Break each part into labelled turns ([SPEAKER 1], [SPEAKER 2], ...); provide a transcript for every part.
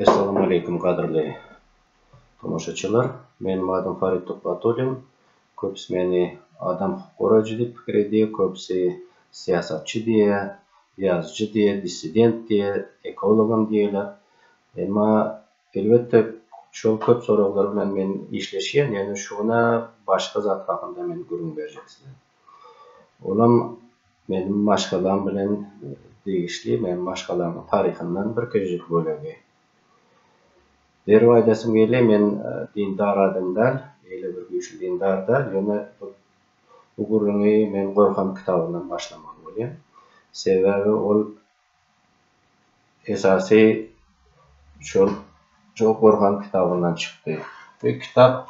[SPEAKER 1] Essalamu aleýkum gadyrly tomaşaçylar. Meniň adym Farid Tuhbatullin. Köpüsi meni adam hukuk goraýjy diýip pikir edýär, köpüsi syýasatçy diýýär, ýazyjy diýýär, dissident diýýär, ekologam diýýärler. Emma elbetde şol köp soraglar bilen men işleşýän, ýöne şu günä başga zat hakynda men gürrüň berjek size. Olam meniň maşgalam bilen degişli, meniň maşgalamyň taryhyndan bir kiçijik bölegi. Derrew aýdasym gelýär, men dindar adam däl, eýle bir güýçli dindar däl, ýöne bu gürrüňi men Gorhan kitabyndan başlamaly bolýan. Sebäbi ol esasy şol Gorhan kitabyndan çykdy. Bu kitap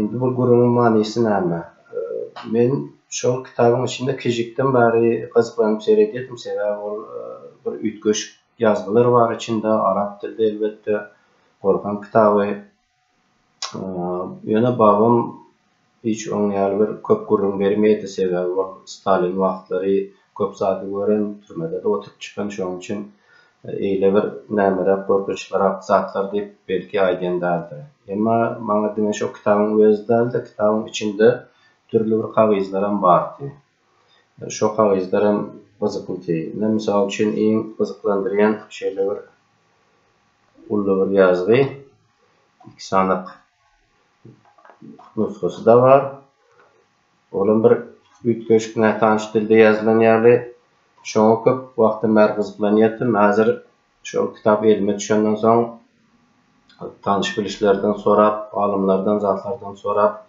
[SPEAKER 1] Indi bu gürrüňiň manysy näme? Men şol kitabyň içinde kiçijikden bäri gyzyklanyp seredýärdim, sebäbi ol bir üýtgeşik ýazgylar bar içinde, arap dilde elbetde, Gorhan kitaby. Ýöne babam Hiç oň ýaly bir köp gürrüň bermeýdi, sebäbi ol Stalin wagtlary köp zady gören, türmede-de oturyp çykan, şoň üçin eýle bir nämeräk gorkunçlyrak zatlar diýip belki aýdýan däldir. Emma maňa diňe şo kitabyň özi däl-de, kitabyň içinde dürli bir kagyzlaram bardy. Şo kagyzlar hem gyzyklydy. Ine, mysal üçin, iň gyzyklandyrýan şeýle bir uly bir ýazgy, iki sanyk nusgasy-da bar. Olam bir üýtgeşik, nätanyş dilde ýazylan ýaly. Şoňa köp wagtdan bäri gyzyklanýardym. Häzir şol kitap elime düşenden soň, tanyş-bilişlerden sorap, alymlardan, zatlardan sorap,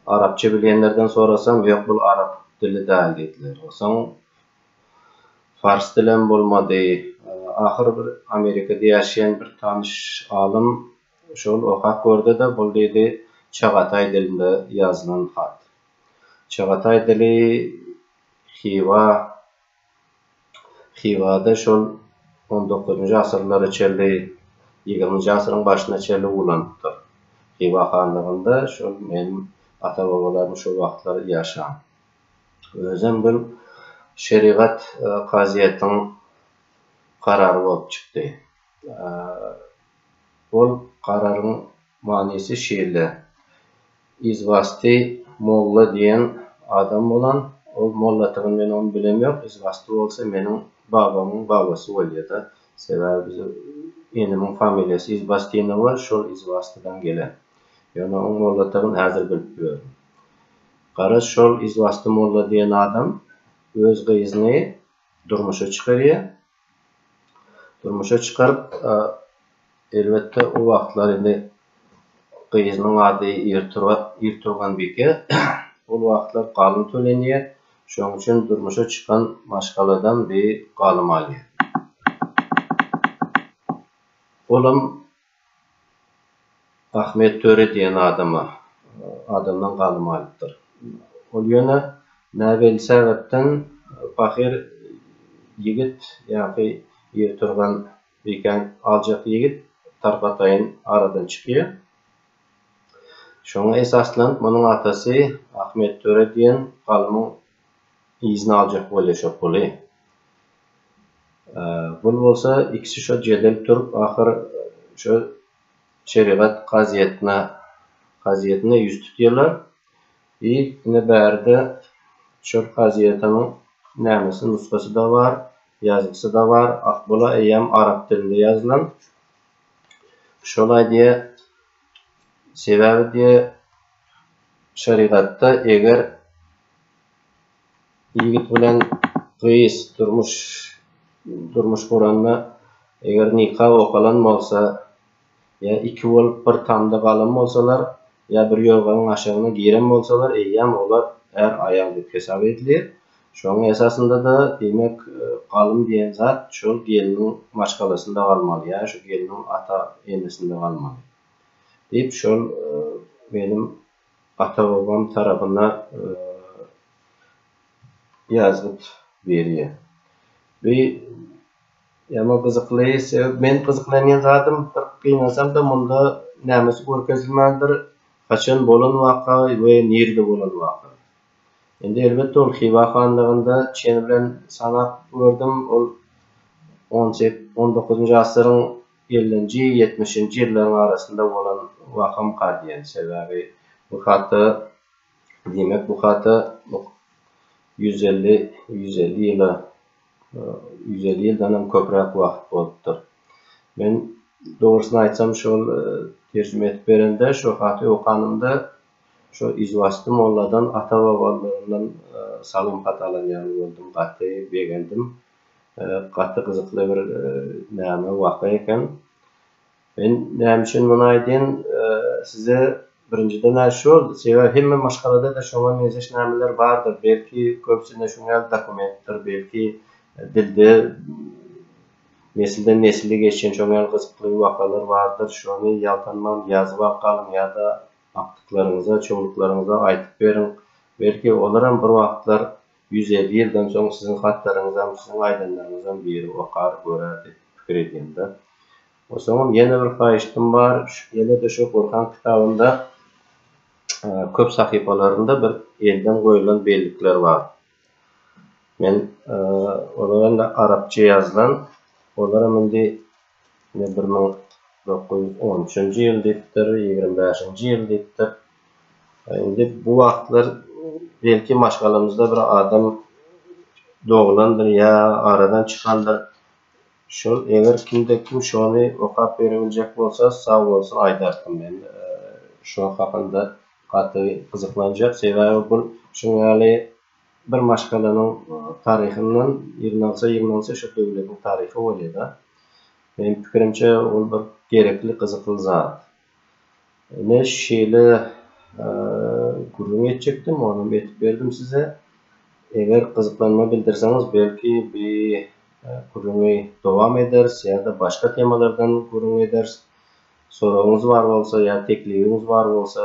[SPEAKER 1] arapça bilýänlerden sorasam, ýok, bul arap dili däl diýdiler. Soň pars dilem bolmady. Ahyry bir Amerikada ýaşaýan bir tanyş alym. Şol okap gördi-de, bul diýdi, çagataý dilinde ýazylan hat. Çagataý dili Hywa, Hywada şol on dokuzynjy asyrlara çenli, ýigriminji asyryň başyna çenli ulanypdyr. Hywa hanlygynda şol meniň ata-babalarym şo wagtlar ýaşan. Özem bir şerigat kazyýetiň karary bolup çykdy. Ol gararyň manysy şeýle, Izwasty molla diýen adam bolan, ol molladygyny men ony bilem ýok, Izwasty bolsa meniň babamyň babasy bolýada, sebäbi biziň enemiň familiýasy Izbastinowa, şol Izwastydan gelen. Ýöne oň molladygyny häzir bilip ýörün. Garaz, şol Izwasty molla diýen adam öz gyzyny durmuşa çykarýar, durmuşa çykaryp elbetde o wagtlar indi gyzynyň ady Irturganbike ol wagtlar galym tölenýär şonuň üçin durmuşa çykan maşgaladan bir galym alýar olam Ahmet Töre diýen adama, adamdan galym alypdyr. Ol ýöne näbelli sebäpden pahyr ýigit, ýa-ki ýigturgan bikäň aljak ýigit tarpataýyn aradan çykýar. Şoňa esaslanyp, munuň atasy Ahmet Töre diýen galymyň yzyna aljak bolýa şo puly. Bul bolsa ikisi şo jedel turup ahyr şo şerigat kazyýetine kazyýetine ýüz tutýarlar i ine bärde şol kazyýetiniň nämesi nusgasy-da bar, ýazgysy-da bar, bula eýýäm arap dilinde ýazylan. Şolaý diýýä, sebäbi diýýä şerigatda eger Ýigit bilen gyz durmuş durmuş guranda, eger nika okalan bolsa, ýa iki bolup bir tamda galan bolsalar, ýa bir ýorganyň aşagyna giren bolsalar, eýýäm olar är-aýal diýip hesap edilýär. Şonuň esasynda-da, diýmek, galym diýen zat şol gelniň maşgalasynda galmaly, ýa şu gelniň ata-enesinde galmaly diýip, şol meniň Ata-babam tarapyna ýazgyt berýär. Bu ýaman gyzykly sebäp men gyzyklanýan zadym bir gynansamda munda nämesi görkezilmändir, haçan bolan waka we nirede bolan waka. Indi elbetde ol Hywa hanlygynda çen bilen sanap gördüm ol on sek on dokuzynjy asyryň Ellinji, ýetmişinji ýyllaryň arasynda bolan wakam kal diýen. Sebäbi bu hata, diýmek bu hata ýüz elli, ýüz elli ýyla, ýüz elli ýyldanam köpräk wagt bolupdyr. Men dogrusyny aýtsam şol terjime edip berende şo haty okanymda şo izwasty molladan ata-babalarymdan salym hat alan ýaly boldum, gaty begendim. Gaty gyzykly bir näme waka eken. Men näme üçin muny aýdýan, size birinjiden şu boldy, sebäbi hemme maşgalada-da şoňa meňzeş nämeler bardyr, belki köpüsinde şuň ýaly dokumentdir, belki dilde nesilden nesile geçen şoň ýaly gyzykly wakalar bardyr, şony ýaltanman ýazyp alyp galyň ýa-da agtyklaryňyza, çowluklaryňyza aýdyp beriň, belki olaram bir wagtlar Ýüz elli ýyldan soň siziň hatlaryňyzam, siziň aýdanlaryňyzam biri okar, görer diýip pikir edýän-de. Soňam ýene bir haýyştym bar, ýene-de şu Gurhan kitabynda köp sahypalarynda bir elden goýulan bellikler bar. Men olar indi arapça ýazylan, olaram indi Ine bir müň dokuz ýüz on üçünji ýyl diýipdir, ýigrimi bäşinji ýyl diýipdir. Indi bu wagtlar belki maşgalamyzda bir adam doglandyr ýa aradan çykandyr. Şol eger kimde kim şony okap berebiljek bolsa sag bolsun aýdarkym men şo hakynda gaty gyzyklanjak sebäbi bul şuň ýaly Bir maşgalanyň taryhyndan ýygnalsa ýygnalsa şu döwletiň taryhy bolýada. Meniň pikirimçe ol bir gerekli gyzykly zat. Ine şeýle gürrüň etjekdim onam etip berdim size. Eger gyzyklanma bildirseňiz belki bi gürrüňi dowam ederis ýa-da başga temalardan gürrüň ederis. Soragyňyz bar bolsa ýa teklibiňiz bar bolsa